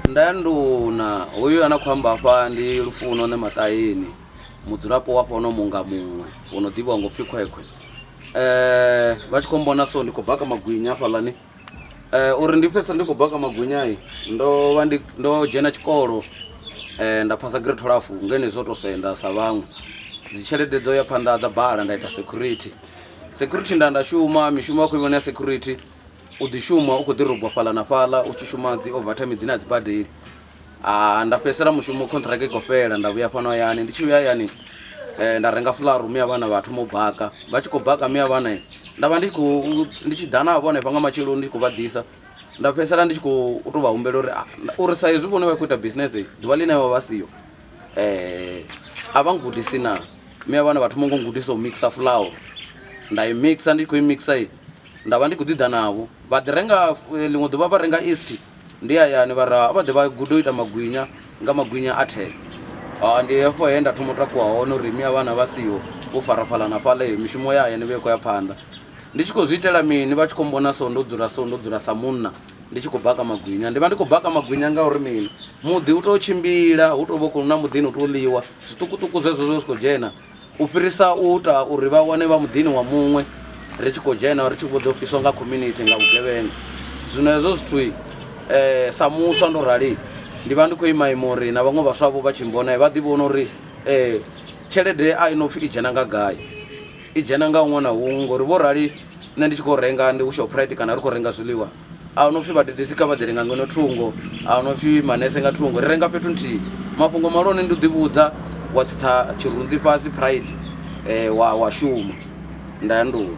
Nda ya nduna hoyu a na khou amba afha ndi lufuno ne maṱayeni mudzulapo wa fhono munga muṅwe wo no ḓivhiwa ngo pfhi khwekhwe eh vha tshi khou mbona so ndi khou baka magwinya hafhaḽani eh uri ndi pfhesa ndi khou baka magwinya i ndo vha ndi ndo dzhena tshikolo eh nda phasa grade 12 ngene zwo to senda sa vhaṅwe dzi tshelede dzo ya phanḓa dza bala nda ita security security nda nda shuma mishumo ya khou ivhona ya security U ḓi shuma u khou ḓi rogwa fhaḽa na fhaḽa u tshi shuma dzi overtime dzine a dzi badeli ah, nda fhedzisela mushumo contract i khou fhela nda vhuya fhano hayani ndi tshi vhuya hayani eh, nda renga fularu miya vhana vha thoma u baka vha tshi khou baka miya vhana eh, nda vha ndi tshi khou ndi tshi ḓa navho hanefha nga matsheloni ndi tshi khou vha ḓisa nda fhedzisela ndi tshi khou u tou vha humbela uri ah, nda- uri sa hezwi vhone vha khou ita business eh, ḓuvha ḽine vha vha siyo eh, a vha ngudisi na miya vhana vha thoma ngo ngudisa u mixa fulauru nda i mixa ndi tshi khou i mixa i Nda vha ndi khou ḓi ḓa navho. Vha ḓi renga, ḽiṅwe ḓuvha vha renga yeast. Ndi hayani vha ra vha ḓe vha gude u ita magwinya nga magwinya a thee. Ha, ndi hafho he nda thoma u takuwa hone uri mme a vhana vha siho, vho farafhalana fhaḽa, heyo mishumo ya hayani i vha i khou ya phanḓa. Ndi tshi khou zwi itela mini? Vha tshi khou mmbona so, ndo dzula so, ndo dzula sa munna, ndi tshi khou baka magwinya. Ndi vha ndi khou baka magwinya ngauri mini? Muḓi u tou tshimbila, hu tou vha hu khou na muḓini hu tou ḽiwa, zwiṱukuṱuku zwezwo zwe zwa zwi khou dzhena. U fhirisa u ita uri vha wane vha muḓini wa muṅwe ri tshi khou dzhena ri tshi vho ḓo fhiswa nga community nga vhugevhenga. Zwino hezwo zwithu um sa muswa ndo rali ndi vha ndi khou ima ima uri na vhaṅwe vhaswa vho vha tshi mbona vha ḓi vhona uri um tshelede a i no pfhi i dzhena nga gai i dzhena nga huṅwe na huṅwe ngori vho rali nṋe ndi tshi khou renga ndi hu Shoprite kana ri khou renga zwiḽiwa A hu no pfi vhadededzi kha vha ḓele nga ngeno thungo, a hu no pfi manese nga thungo. Ri renga fhethu nthihi. Mafhungo malone ndi u ḓivhudza, wa tsitsa tshirunzi fhasi, pride, wa, wa shuma. Nda ya nḓuni.